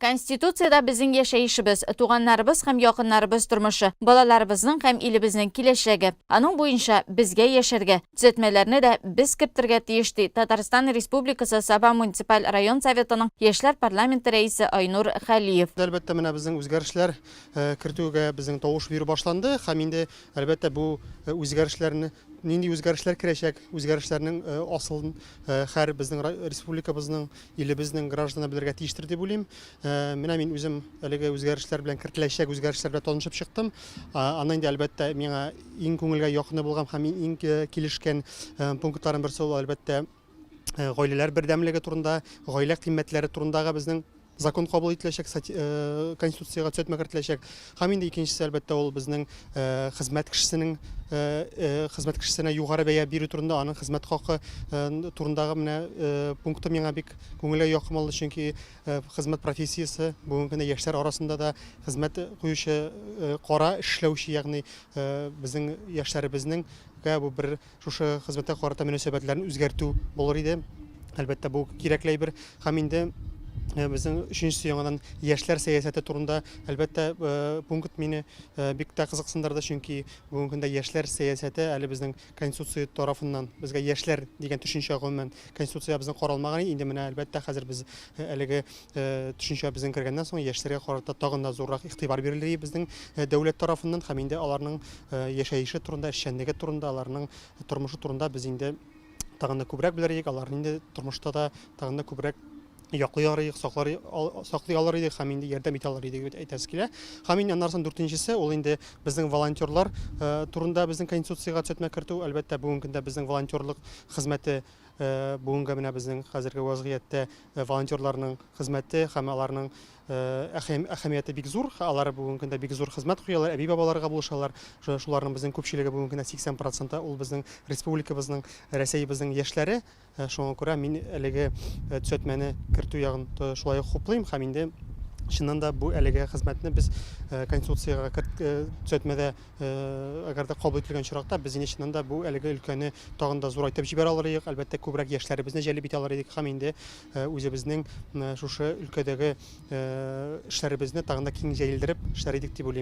Конституциядә безнең яшәешебез, туганнарыбыз һәм якыннарыбыз тормышы, балаларыбызның һәм илебезнең киләчәге, аның буенча безгә яшәргә, төзәтмәләрне дә без кертергә тиеш, ди Татарстан Республикасы Саба муниципаль район Советының яшьләр парламенты рәисе Айнур Хәлиев. Әлбәттә, менә безнең үзгәрешләр кертүгә безнең тавыш бирү башланды һәм инде, әлбәттә, бу үзгәрешләрне Нинди үзгәрешләр керәчәк, үзгәрешләрнең асылын һәр безнең республикабызның, илебезнең гражданы белергә тиештер дип уйлыйм. Менә мин үзем әлеге үзгәрешләр белән кертеләчәк үзгәрешләр белән танышып чыктым. Аннан инде әлбәттә миңа иң күңелгә якыны булган һәм иң килешкән пунктларның берсе ул әлбәттә гаиләләр бердәмлеге турында, гаилә кыйммәтләре турындагы безнең закон кабул ителәчәк, Конституциягә төзәтмә кертеләчәк. Һәм инде икенчесе, әлбәттә, ул безнең хезмәт кешесенең хезмәт кешесенә югары бәя бирү турында, аның хезмәт хакы турындагы менә пункты миңа бик күңелгә якын булды, чөнки хезмәт профессиясе бүгенге көндә яшьләр арасында да хезмәт куючы кара эшләүче, ягъни безнең яшьләребезнең бу бер Шушы хезмәткә карата мөнәсәбәтләрен үзгәртү булыр иде. Әлбәттә, бу кирәкле әйбер. Һәм инде Э, безнең өченчесе яңадан яшьләр сәясәте турында әлбәттә э, пункт мине э, бик тә кызыксындырды чөнки бүгенге көндә яшьләр сәясәте әле безнең конституция тарафыннан безгә яшьләр дигән төшенчә гомумән конституциябезнең каралмаган инде менә әлбәттә хәзер без әлеге төшенчә безнең кергәннән соң яшьләргә карата тагын да зуррак игътибар бирелде безнең дәүләт тарафыннан һәм инде аларның яшәеше турында, эшчәнлеге турында, аларның тормышы турында без инде тагын да күбрәк белерик, аларны инде тормышта да тагын да күбрәк яклый алыр идек, саклар, саклый алыр идек һәм инде ярдәм итә алыр идек дип әйтәсе килә. Һәм инде аннардан дүртенчесе ул инде безнең волонтерлар турында безнең конституциягә төзәтмә кертү. Әлбәттә, бүгенге көндә безнең волонтерлык хезмәте бүгенге менә безнең хәзерге вазгыятьтә волонтерларның хезмәте һәм аларның әһәмияте бик зур. Алар бүгенге көндә бик зур хезмәт куялар, әби-бабаларга булышалар. Шуларның безнең күпчелеге бүгенге көндә 80 проценты ул безнең республикабызның, Рәсәебезнең яшьләре. Шуңа күрә мин әлеге төзәтмәне кертү ягын шулай ук хуплыйм һәм инде чыннан да бу әлеге хезмәтне без Конституциягә төзәтмәдә Әгәр дә кабул ителгән очракта, без инде чыннан да бу әлеге өлкәне тагын да зурайтып җибәрә алыр идек, әлбәттә, күбрәк яшьләребезне җәлеп итә алыр идек һәм инде үзебезнең шушы өлкәдәге эшләребезне тагын да киң җәелдереп эшләр идек дип уйлыйм.